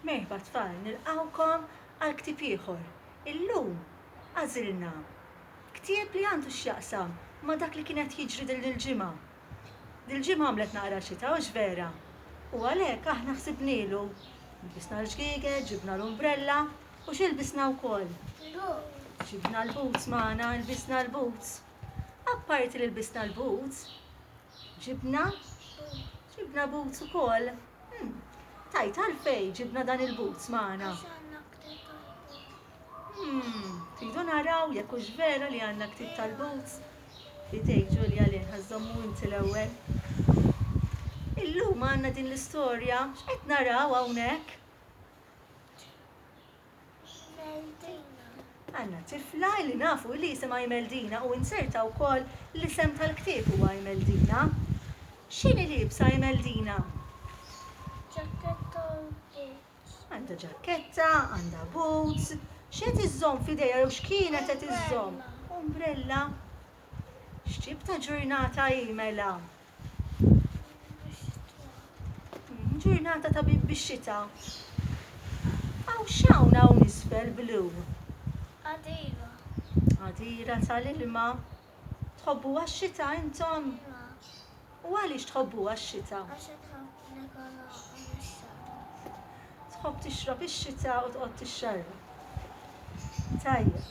Merħba tfal, nilqgħukom għal ktieb ieħor. Illum għażilna ktieb li għandu x'jaqsam ma' dak li kien qed jiġri din il-ġimgħa. Dil-ġimgħa għamlet naqra xita, hux vera? U għalhekk aħna ħsibnielu. Ilbisna l-ġgieget, ġibna l-umbrella u x'ilbisna wkoll? Il-boots. Ġibna l-boots magħna, ilbisna l-boots. Apparti li lbisna l-boots, ġibna? Ġibna boots ukoll? Hm, tajt għalfejn ġibna dan il-boots magħna? Hm, tridu naraw jekk hux vera li għandna ktieb tal-boots? Fidejk Ġulja li ħażżommu inti l-ewwel. Illum għandna din l-istorja, x'qed naraw hawnhekk? Imeldina. Għandna tifla li nafu li jisimha Imeldina u inserta wkoll l-isem tal-ktieb huwa Imeldina. X'inhi liebsa Imeldina? Ġakketta u boots. Għandha ġakketta, għandha boots. X'qed iżżomm f'idejha jew x'kienet qed iżżomm? Umbrella. X'tip ta' ġurnata hi mela? Ġurnata ta' bib bix-xita. Hawn x'hawn hawn isfel blu? Għadira. Għadira tal-ilma. Tħobbuha x-xita intom? Iva. U għaliex tħobbuha x-xita? Għax Tħobb tixrob ix-xita u tqgħod tixxarrab. Tajjeb.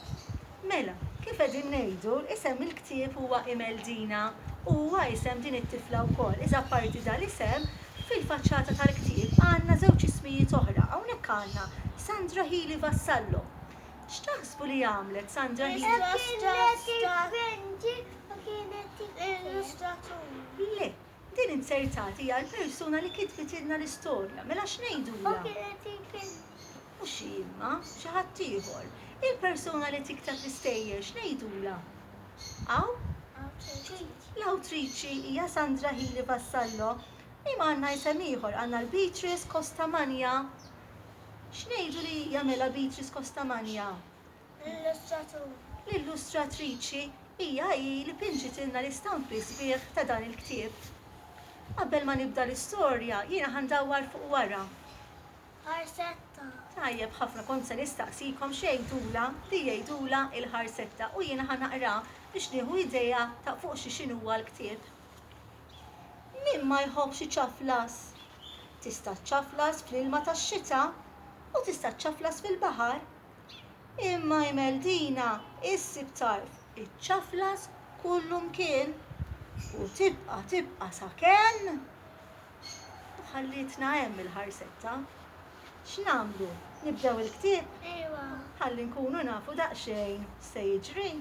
Mela, kif qegħdin ngħidu, isem il-ktieb huwa Imeldina u huwa isem din it-tifla wkoll. Iżda apparti dan l-isem, fil-faċċata tal-ktieb għandna żewġ ismijiet oħra. Hawnhekk għandna Sandra Healy Vassallo. X'taħsbu li għamlet Sandra Healy? Kienet inventriċi u kienet tikber. Illustratur. Le, Din inzertat hija l-persuna li kitbitilna l-istorja, mela x'ngħidulha? Mhux hi imma, xi ħadd ieħor. Il-persuna li tikteb l-istejjer x'ngħidulha? Hawn? L-awtriċi hija Sandra Healy Vassallo. Imma għandna isem ieħor, għandna l-Beatrice Costamagna. X'ngħidu li hija mela Beatrice Costamagna? L-illustratur, l-illustratriċi hija hi li pinġitilna l-istampi sbieħ ta' dan il-ktieb. Qabel ma nibda l-istorja, jiena ħa ndawwar fuq wara. Ħarsetta. Tajjeb ħafna kont se nistaqsikom x'għidulha li jgħidulha l-ħarsetta u jiena ħa naqra biex nieħu idea ta' fuq xi x'in huwa l-ktieb. Min ma jħobbx iċaflas? Tista' ċċaflas fl-ilma tax-xita u tista' ċċaflas fil-baħar Imma Imeldina issib tarf iċċaflas kullu mkien u tibqa' tibqa' sakemm ħallietna hemm il-ħarsetta. X'nagħmlu? Nibdew il-ktieb? Ejwa. Ħalli nkunu nafu daqsxejn se jiġri.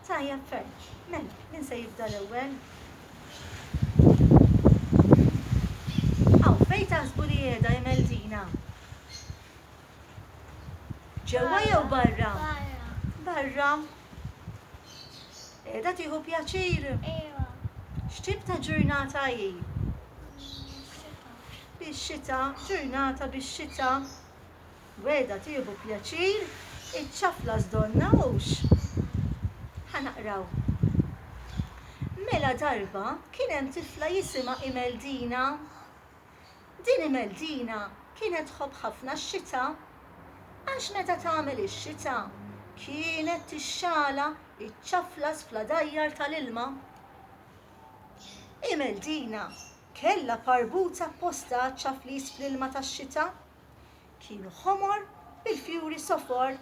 Tajjeb ferm. Mela, min se jibda l-ewwel? Aw, fejn taħsbu li qiegħda Imeldina? Ġewwa jew barra? Barra. Qiegħda tieħu pjaċir? Iva. X'tip ta' ġurnata hi? Bix-xita, ġurnata bix-xita. Weda tieħu pjaċir, iċ-ċafla żdonna hux. Ħanaqraw. Mela darba kien hemm tifla jisimha Imeldina. Din Imeldina kienet tħobb ħafna x-xita għax meta tagħmel ix-xita kienet tixxala iċ-ċaflas fl-għadajjar tal-ilma. Imeldina kellha parbuta apposta għaċ-ċaflis fl-ilma tax-xita. Kienu ħomor bil-fjuri sofor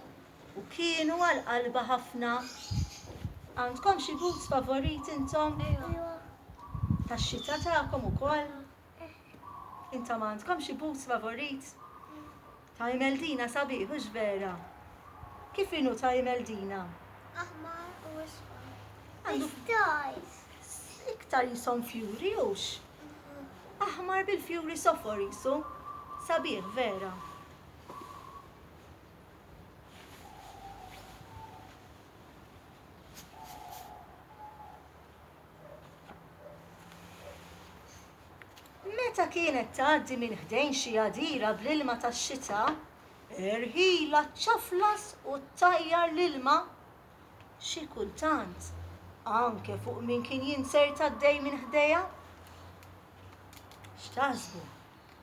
u kienu għal qalbha ħafna. Għandkom xi boots favoriti intom? Tax-xita tagħkom ukoll? Intom għandkom xi boots favorit? Ta' Imeldina sabiħ, hux vera? Kif inhu ta' Imeldina? Aħmar u isfar. Għandu stars. Iktar jisom fjuri hux? Aħmar bil-fjuri sofor jisu. Sabiħ, vera. Meta kienet tgħaddi minn ħdejn xi għadira bl-ilma tax-xita, irħilha ċċaflas u ttajjar l-ilma. Xi kultant, anke fuq min kien jinsert għaddej minn ħdejha. X'taħsbu?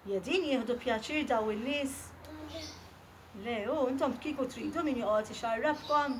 Jedin jieħdu pjaċir daw in-nies? Le, u intom kieku tridu min joqgħod ixarrabkom?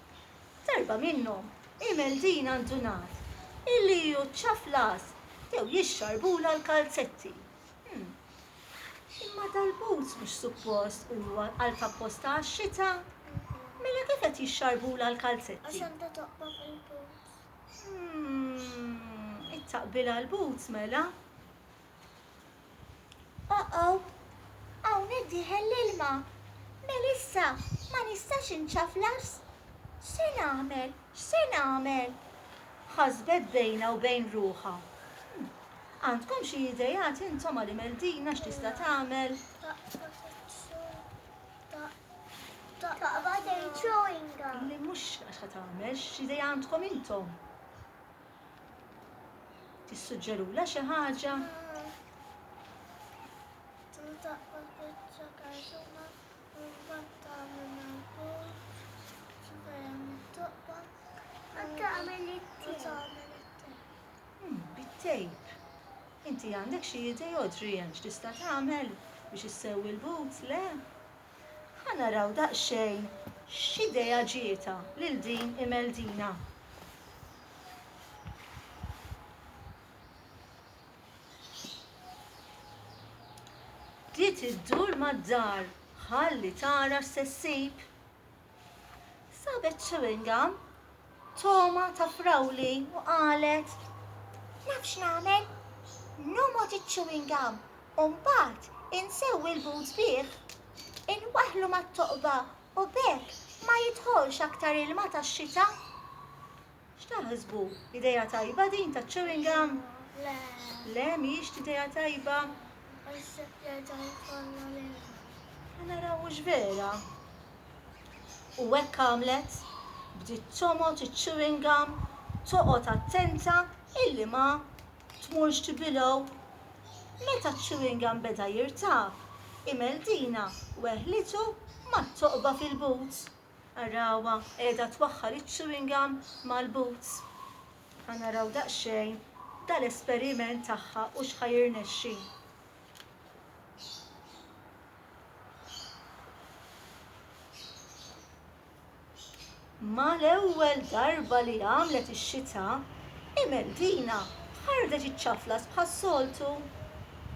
F'darba minnhom, il-Meldin għandu ngħad illi hu ċċaflas jew jixxarbula l-kalzetti. Hm. Imma dal-but mhux suppost huwa qalb apposta għax-xita? Mela kif qed jixxarbula l-kalzetti? Għax għandha toqba fil-boots. Hm. It-taqbila l-boots mela? Oqow! Hawn qed tidħel l-ilma! Melissa, ma nistax inċaflas! X'se nagħmel? X'se nagħmel? Ħasbet bejnha u bejn ruħha. Għandkom xi ideat intom għal Imeldina x'tista' tagħmel? Taqbad il-chewing gum. Le mhux għax ħa tagħmel, x'idea għandkom intom? Tissuġġerula xi ħaġa? Taqbad biċċa kartuna u mbagħad tagħmel mal-bord bejn it-toqba u tagħmel it-tejp. Hmm, bit-tejp. Inti għandek xi idea, Adrian, x'tista' tagħmel biex issewwi l-boots, le? Ħa naraw daqsxejn x'idea ġietha lil din Imeldina. Bdiet iddur mad-dar ħalli tara x'se ssib. Sabet chewing gum, togħma ta' frawli u qalet, Naf x'nagħmel? Nomgħod iċ-chewing gum u mbagħad insewwi l-boots bih. Inwaħħlu mat-toqba u b'hekk ma jidħolx aktar ilma tax-xita. X'taħsbu? Idea tajba din ta' chewing gum? Le. Le, mhijiex idea tajba? Għax se jerġa' jkollna l-ilma. Ħa naraw hux vera. U hekk għamlet, bdiet tomgħod iċ-chewing gum, toqgħod attenta illi ma tmurx tibilgħu. Meta ċ-chewing gum beda jirtaf, Imeldina weħlitu mat-toqba fil-but. Arawha qiegħda twaħħal iċ-chewing gum mal-boots. Ħa naraw daqsxejn dal-esperiment tagħha u x'ħa jirnexxi. Mal-ewwel darba li għamlet ix-xita, Imeldina ħardet iċ-ċaflas bħas-soltu.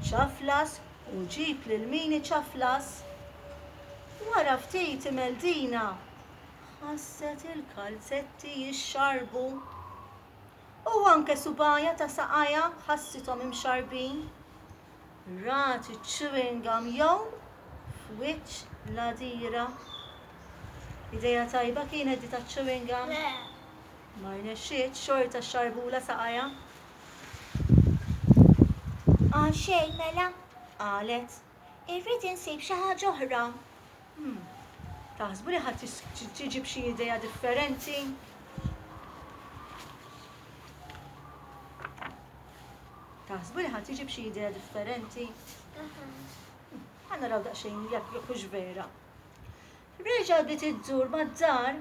Ċaflas U ġib lil min iċaflas. Wara ftit Imeldina ħasset il-kalzetti jixxarbu. U anke subgħajha ta' saqajha ħassithom imxarrbin. Rat iċ-chewing gum jgħum f'wiċċ l-għadira. Idea tajba kienet di taċ-chewing gum? Le. Ma rnexxietx, xorta xxarrbulha saqajha. Għal xejn mela, qalet, irrid insib xi ħaġa oħra. Hmm, taħsbu li ħadd tiġib xi idea differenti? Taħsbu li ħadd tiġib xi idea differenti? Għanna raw daqsxejn jekk jekk vera. Reġgħet bdiet iddur mad-dar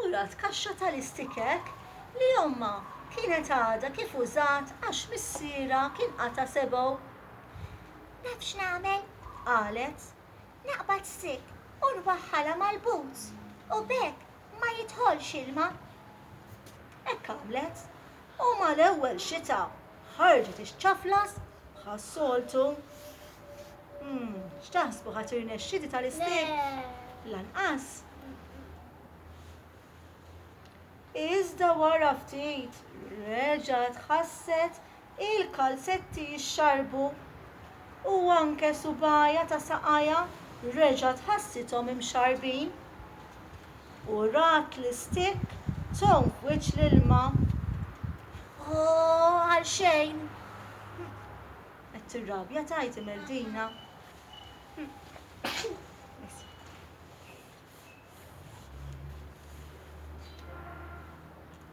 u rat kaxxa tal-istikek li ommha kienet għadha kif użat għax missierha kien qata' sebgħu. Naf x'nagħmel, qalet. Naqbad stick u nwaħħalha mal-boots u b'hekk ma jidħolx ilma. Hekk għamlet u mal-ewwel xita Ħarġet ix-ċaflas bħas-soltu. Hmm, x'taħsbu ħadd irnexxiti tal-istik? Lanqas. Iżda wara ftit reġgħet ħasset il-kalzetti jixxarbu u anke subajja ta' saqajja reġgħet ħassithom imxarbin. U rat l-istick tonk wiċċ l-ilma. Ohh, għal xejn! Qed tirrabja tgħid Imeldina.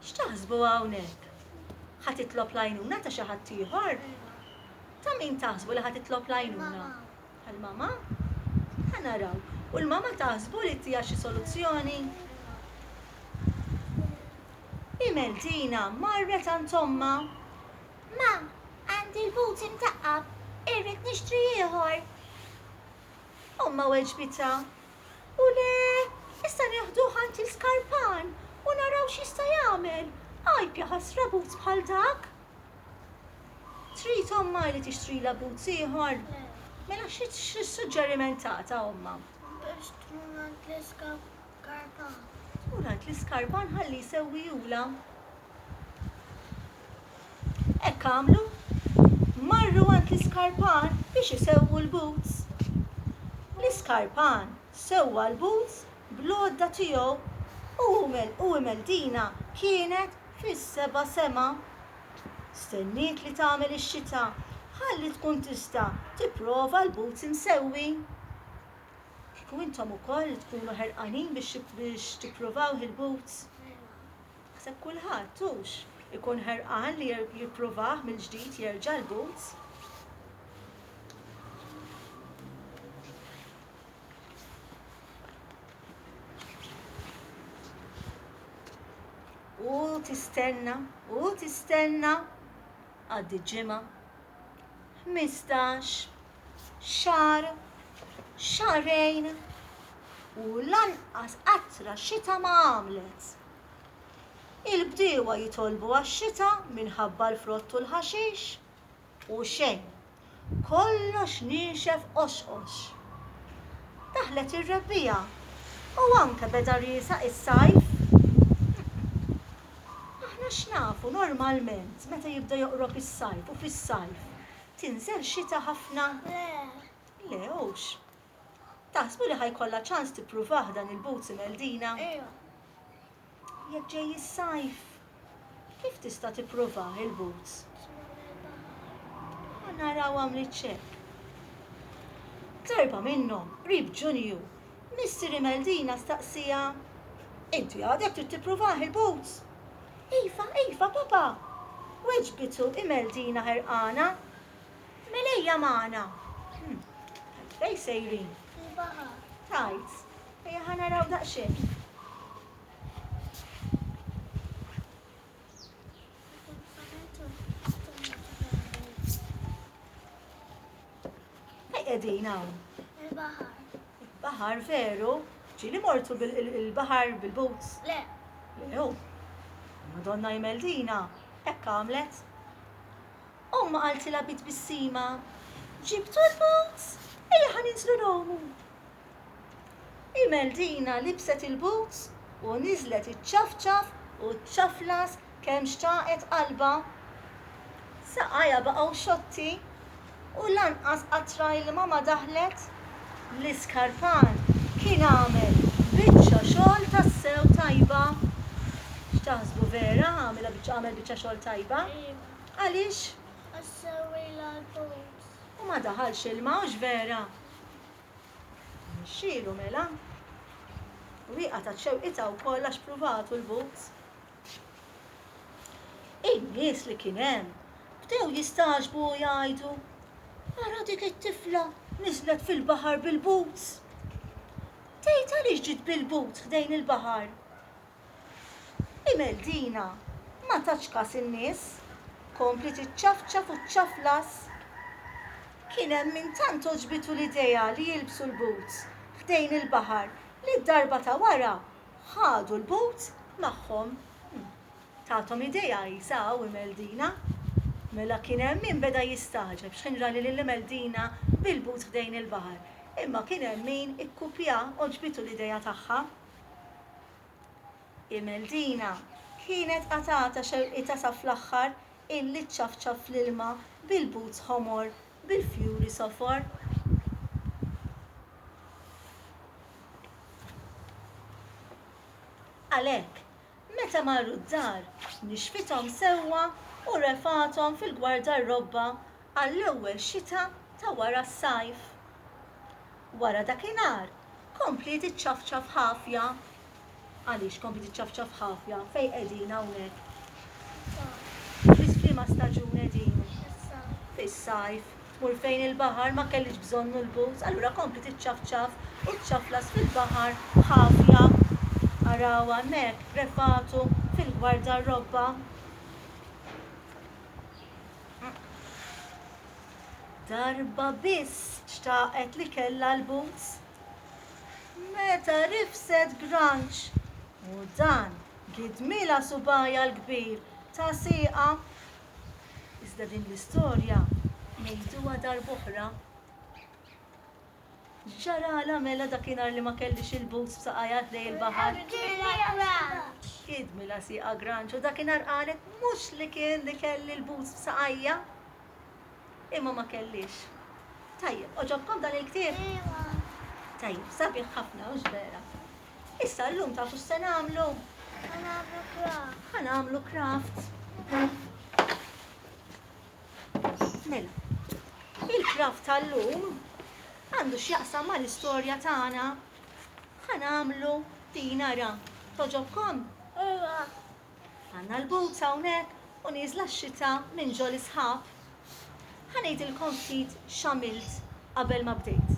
X'taħsbu hawnhekk? Ħa titlob l-għajnuna ta' xi ħaddieħor? Ta' min taħsbu li ħa titlob l-għajnuna? Għall-mama? Ħa naraw. U l-mama taħsbu li ttiha xi soluzzjoni? Hi Meltina marret għand ommha. Ma, għandi l-but imtaqqab, irrid nixtri ieħor. Ommha weġbitha. U le, issa neħduh għand il-skarpan u naraw x'jista' jagħmel. Għajb jaħasra but bħal dak! Trid ommha li tixtrilha boots ieħor? Le. Mela x'suġġeriment tagħtha ommha? Biex tmur għand l-iskarpan. Tmur għand l-iskarpan ħalli jsewwihulha. Hekk għamlu. Marru għand l-iskarpan biex isewwu l-boots. L-iskarpan sewwa l-boots bl-għodda tiegħu u Umeldina kienet Fis-seba' sema stenniet li tagħmel ix-xita ħalli tkun tista' tipprova l-boots imsewwi. Kieku intom ukoll tkunu ħerqanin biex tippruvawh il-boots? Naħseb kulħadd, hux, ikun ħerqan li jippruvah mill-ġdid jerġa' l-boots. U tistenna, u tistenna, għaddi ġimgħa, ħmistax, xar, xarejn, u lanqas qatra xita ma għamlet. Il-bdiewa jitolbu għax-xita minħabba l-frott u l-ħaxix, u xejn. Kollox niexef qoxqox. Daħlet ir-rebbiegħa u anke beda riesaq is-sajf. Aħna x'nafu normalment meta jibda joqrob is-sajf u fis-sajf tinżel xita ħafna? Le, hux. Taħsbu li ħa jkollha ċans tippruvah dan il-boots imel Dina? Ejwa. Jekk ġej is-sajf, kif tista' tippruvah il-boots? Ħa naraw għamliet x'hekk. Darba minnhom, qrib Ġunju, missier imel Dina staqsiha, Inti għadek trid tippruvah il-boots? Iva, iva, papa! Weġbitu imel Dina ħerqana. Mel ejja magħna. Fejn sejrin? Il-baħar. Tajt. Ejja ħa naraw daqsxejn. Fejn qegħdin hawn? Il-baħar. Baħar veru? Ġieli mortu bil-baħar bil-boots? Le. Lew. Madonna jmeldina. Hekk għamlet. Ommha qaltilha bi tbissima, Ġibtu l-boots? Ejja ħa ninżlu ngħumu. Imeldina libset il-boots u niżlet iċċafċaf u ċċaflas kemm xtaqet qalbha. Saqajha baqgħu xotti u lanqas qatra ilma ma daħlet. L-iskarfan kien għamel biċċa xogħol tassew tajba. X'taħsbu vera għamel biċċa xogħol tajba? Għaliex? Għax sewwilha l-post. U ma daħalx ilma, hux vera? Mexxielu mela. U hi qatgħet xewqitha wkoll għax pruvatu l-boots. In-nies li kien hemm bdew jistagħġbu u jgħidu, Ara dik it-tifla niżlet fil-baħar bil-boots! Tgħid għaliex ġiet bil-boots ħdejn il-baħar? Imeldina ma tatx kas in-nies, kompliet iċċafċaf u ċċaflas. Kien hemm min tant għoġbitu l-idea li jilbsu l-boots ħdejn il-baħar li d-darba ta' wara ħadu l-boots magħhom. Tathom idea qisha hawn Imeldina. Mela kien hemm min beda jistagħġeb x'ħin ra lil Imeldina bil-boots ħdejn il-baħar, imma kien hemm min ikkupja għoġbitu l-idea tagħha. Imeldina kienet qatgħatha xewqietha sa fl-aħħar illi ċċafċaf fl-ilma bil-boots ħomor bil-fjuri sofor. Għalhekk, Meta marru d-dar, nixfithom sewwa u refgħathom fil-gwardarrobba għall-ewwel xita ta' wara s-sajf. Wara dakinhar kompliet iċċafċaf ħafja. Għaliex kompliet iċċafċaf ħafja fejn qegħdin hawnhekk? Fis-sajf. Fis-fliema staġun qegħdin? Fis-sajf. Fis-sajf. Tmur fejn il-baħar, ma kellix bżonnu l-boots, allura kompli tiċċafċaf u ċċaflas fil-baħar b'ħafja. Araw hemmhekk, prefatu fil-gwardarrobba. Darba biss xtaqet li kellha l-boots. Meta rifset granċ u dan gidmilha subgħajha l-kbir ta' sieqha. Iżda din l-istorja ngħiduha darb'oħra. X'ġaralha mela dakinhar li ma kellhiex il-boots b'saqajha ħdej il-baħar? Idmilha sieqha granċ u dakinhar qalet mhux li kien li kelli l-boots b'saqajja imma ma kellhiex. Tajjeb, għoġobkom dan il-ktieb? Tajjeb, sabiħ ħafna, hux vera? Issa llum tafu x'se nagħmlu? Ħa nagħmlu kraft. Ħa nagħmlu kraft. Mela, il-kraft tal-lum għandu x'jaqsam mal-istorja tagħna. Ħa nagħmlu din ara. Toġobkom? Ejwa. Għandna l-boots hawnhekk u nieżla x-xita minn ġo l-isħab. Ħa ngħidilkom ftit x'għamilt qabel ma bdejt.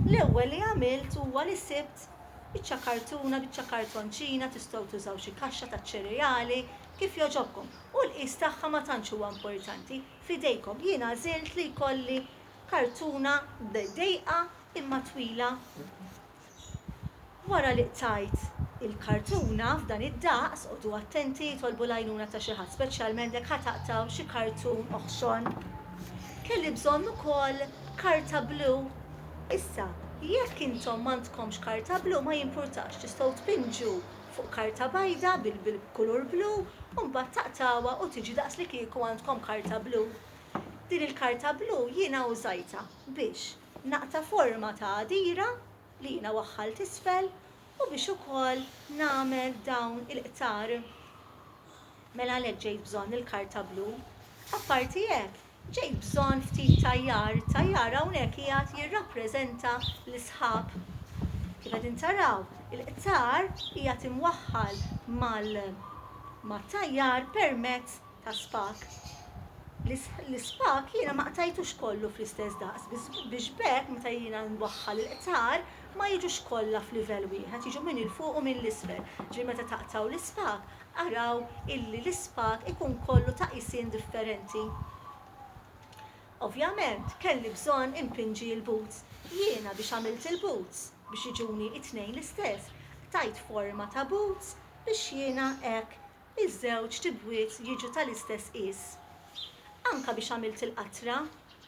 L-ewwel li għamilt huwa li sibt biċċa kartuna, biċċa kartonċina, tistgħu tużaw xi kaxxa taċ-ċereali, kif jogħġobkom. U l-qies tagħha ma tantx huwa importanti, f'idejkom. Jien għażilt li jkolli kartuna dejqa imma twila. Wara li qtajt il-kartuna f'dan id-daqs, qogħdu attenti, itolbu l-għajnuna ta' xi ħadd, speċjalment jekk ħa taqtgħu xi kartun oħxon. Kelli bżonn ukoll karta blu. Issa, jekk intom m'għandkomx karta blu ma jimpurtax, tistgħu tpinġu fuq karta bajda bil-kulur blu u mbagħad taqtgħuha u tiġi daqslikieku għandkom karta blu. Din il-karta blu jiena użajtha biex. Naqta' forma ta' għadira li jiena waħħalt isfel u biex ukoll nagħmel dawn il-qtar. Mela għalhekk ġejt bżonn il-karta blu. Apparti hekk, ġejt bżonn ftit tajjar, it-tajjar hawnhekk qiegħed jirrappreżenta l-isħab. Kif qegħdin taraw, il-qtar qiegħed imwaħħal mal-tajjar permezz ta' spak. L-ispak jiena ma qtajtux kollu fl-istess daqs biex b'hekk meta jiena nwaħħal il-qtar ma jiġux kollha f'livell wieħed, jiġu minn 'il fuq u minn 'l isfel. Ġifieri meta taqtgħu l-ispak, araw illi l-ispak ikun kollu ta' qisien differenti. Ovvjament kelli bżonn inpinġi l-boots. Jiena biex għamilt il-boots biex jiġuni t-tnejn l-istess, qtajt forma ta' boots biex jiena hekk Iż-żewġ tibwiet jiġu tal-istess qies. Anke biex għamilt il-qatra,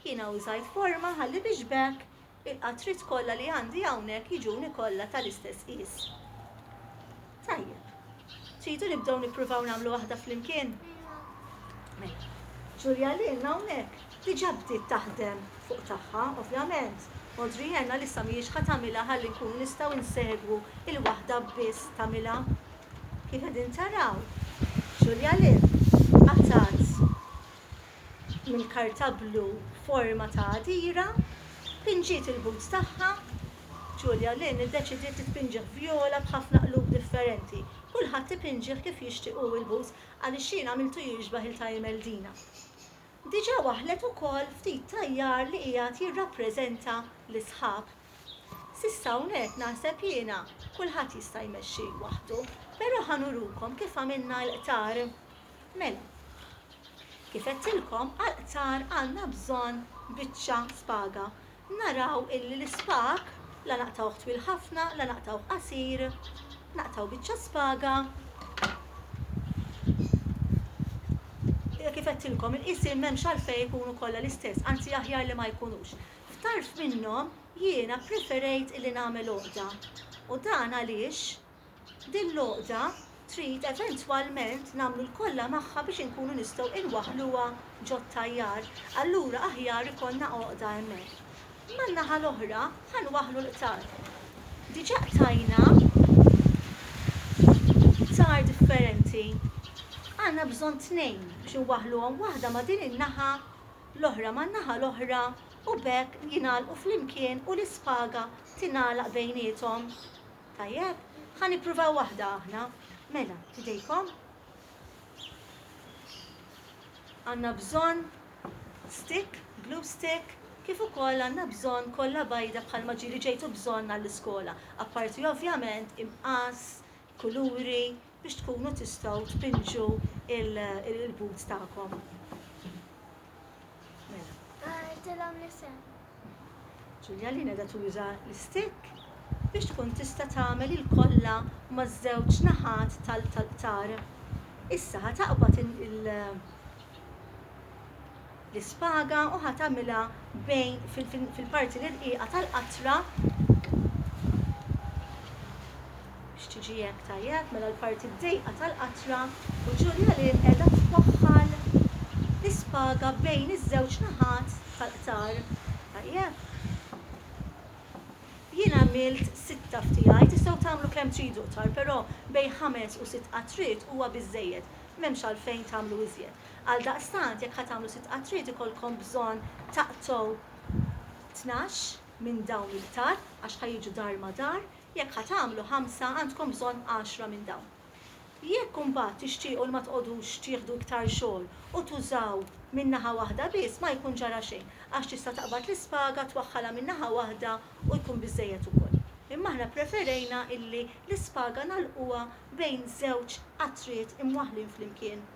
jiena użajt forma ħalli biex b'hekk il-qatriet kollha li għandi hawnhekk jiġuni kollha tal-istess qies. Tajjeb. Tridu nibdew nippruvaw nagħmlu waħda flimkien? Mela. Julia Lynn hawnhekk diġà bdiet taħdem fuq tagħha, ovvjament. Audrey Ann għalissa mhijiex ħa tagħmilha ħalli nkunu nistgħu nsegwu il-waħda biss tagħmilha. Kif qegħdin taraw, Julia Lind qatgħet mill-karta blu forma ta' għadira, pinġiet il-boots tagħha, Julia Lind iddeċidiet li tpinġih vjola b'ħafna qlub differenti. Kulħadd ipinġih kif jixtieq hu l-boots għaliex jien għamiltu jixbah il-Taimel-Dina. Diġà waħħlet ukoll ftit tajjar li qiegħed jirrappreżenta lis-sħab. S'issa hawnhekk naħseb jiena kulħadd jista' jmexxi waħdu, però ħa nurukom kif għamilna l-qtar. Mela, kif għedtilkom għall-qtar għandna bżonn biċċa spaga. Naraw illi l-ispag la naqtgħuh twil ħafna la naqtgħuh qasir, naqtgħu biċċa spaga kif għedtilkom il-qisien m'hemmx għalfejn ikunu kollha l-istess, anzi aħjar li ma jkunux. F'tarf minnhom jiena ppreferejt illi nagħmel għoqda u dan għaliex din l-għoqda trid eventwalment nagħmlu l-kollha magħha biex inkunu nistgħu inwaħħluha ġot-tajjar, allura aħjar ikollna għoqda hemmhekk. Man-naħa l-oħra ħa nwaħħlu l-qtar. Diġà qtajna qtar differenti. Għandna bżonn tnejn biex inwaħħluhom, waħda ma' din in-naħa l-oħra man-naħa l-oħra u b'hekk jingħalqu flimkien u l-ispaga tingħalaq bejniethom. Tajjeb, ħa nippruvaw waħda aħna. Mela, f'idejkom. Għandna bżonn stick, glue stick, kif ukoll għandna bżonn kollha bajda bħalma ġieli ġejtu bżonn għall-iskola, apparti ovvjament imqass, kuluri, biex tkunu tistgħu tpinġu il-but tagħkom. Mela. Għidilhom l-isem. Ġulja li qiegħda tuża l-istikk biex tkun tista' tagħmel il-kolla maż-żewġ naħat tal-qtar. Issa ħa taqbad il- l-ispaga u ħa tagħmilha bejn fil-parti l-irqiqa tal-qatra biex tiġi hekk tajjeb, mela l-parti d-dejqa tal-qatra u Ġulja Lynn qiegħda twaħħal l-ispaga bejn iż-żewġ naħat tal-qtar. Tajjeb. Jien għamilt sitta f'tiegħi, tistgħu tagħmlu kemm tridu qtar, però bejn ħames u sitt qatriet huwa biżżejjed, m'hemmx għalfejn tagħmlu iżjed. Għaldaqstant, jekk ħa tagħmlu sitt qatriet ikollkom bżonn taqtgħu tnax minn dawn il-qtar għax ħa jiġu dar ma' dar, jekk ħa tagħmlu ħamsa għandkom bżonn għaxra minn dawn. Jekk imbagħad tixtiequ li ma tqogħdux tieħdu iktar xogħol u tużaw minn naħa waħda biss ma jkun ġara xejn għax tista' taqbad l-ispaga twaħħalha minn naħa waħda u jkun biżżejjed ukoll. Imma aħna ppreferejna illi l-ispaga nagħlquha bejn żewġ qatriet imwaħħlin flimkien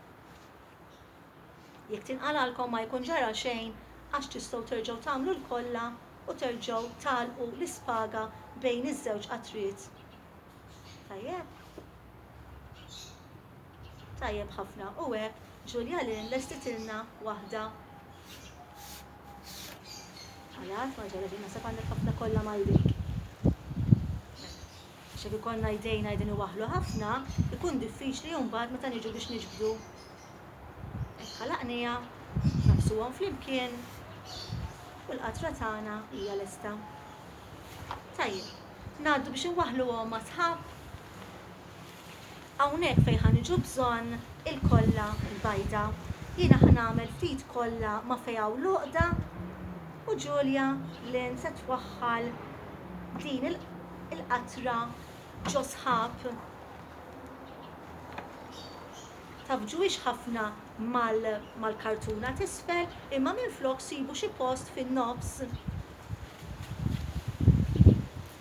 Jekk tinqalgħalkom ma jkun ġara xejn għax tistgħu terġgħu tagħmlu l-kolla u terġgħu tagħlqu l-ispaga bejn iż-żewġ qatriet. Tajjeb? Tajjeb ħafna u hekk Julia Lynn lestitilna waħda. Għalat ma ġara xejn naħseb għandek ħafna kolla mal-dik. Għax jekk ikollna jdejna qegħdin iwaħħlu ħafna, ikun diffiċli mbagħad meta niġu biex niġbdu hekk ħalaqniha, naqsuhom flimkien u l-qatra tagħna hija lesta. Tajjeb, ngħaddu biex inwaħħluhom ma' sħab. Hawnhekk fejn ħa niġu bżonn il-kolla l-bajda. Jiena ħa nagħmel ftit kolla ma' fejn hawn l-għoqda u Julia Lynn se twaħħal din il-qatra ġo sħab. Taf ġwiex ħafna mal-kartuna t'isfel imma minflok sibu xi post fin-nofs.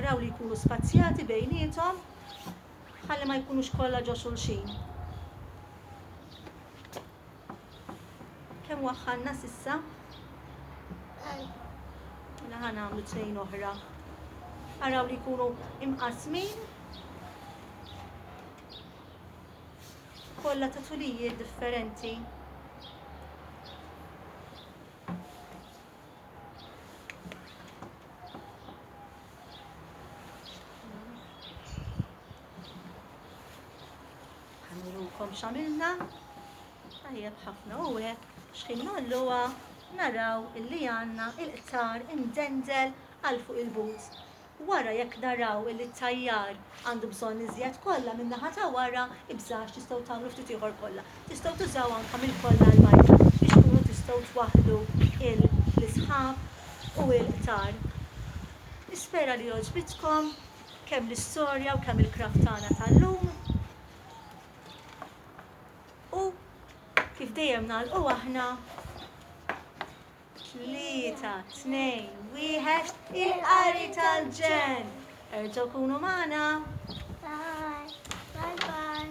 Araw li jkunu spazjati bejniethom ħalli ma jkunux kollha ġo xulxin. Kemm waħħalna s'issa? Mela ħa nagħmlu tnejn oħra. Araw li jkunu imqasmin kollha ta' tulijiet differenti. Ħanirukom x'għamilna. Tajjeb ħafna u hekk x'ħin nolluha naraw illi għandna il-qtar imdendel għal fuq il-but. Wara jekk naraw illi t-tajjar għandu bżonn iżjed kolla min-naħa ta' wara, ibżgħax tistgħu tagħmlu ftit ieħor kolla. Tistgħu tużaw anka mill-kolla l-bajda biex tkunu tistgħu twaħħlu l-isħab u l-qtar. Nispera li għoġbitkom kemm l-istorja u kemm il-craft tagħna tal-lum. U kif dejjem nagħlqu aħna, Tlieta, tnejn, wieħed, il-qari tal-ġen! Erġgħu kunu magħna! Bye bye!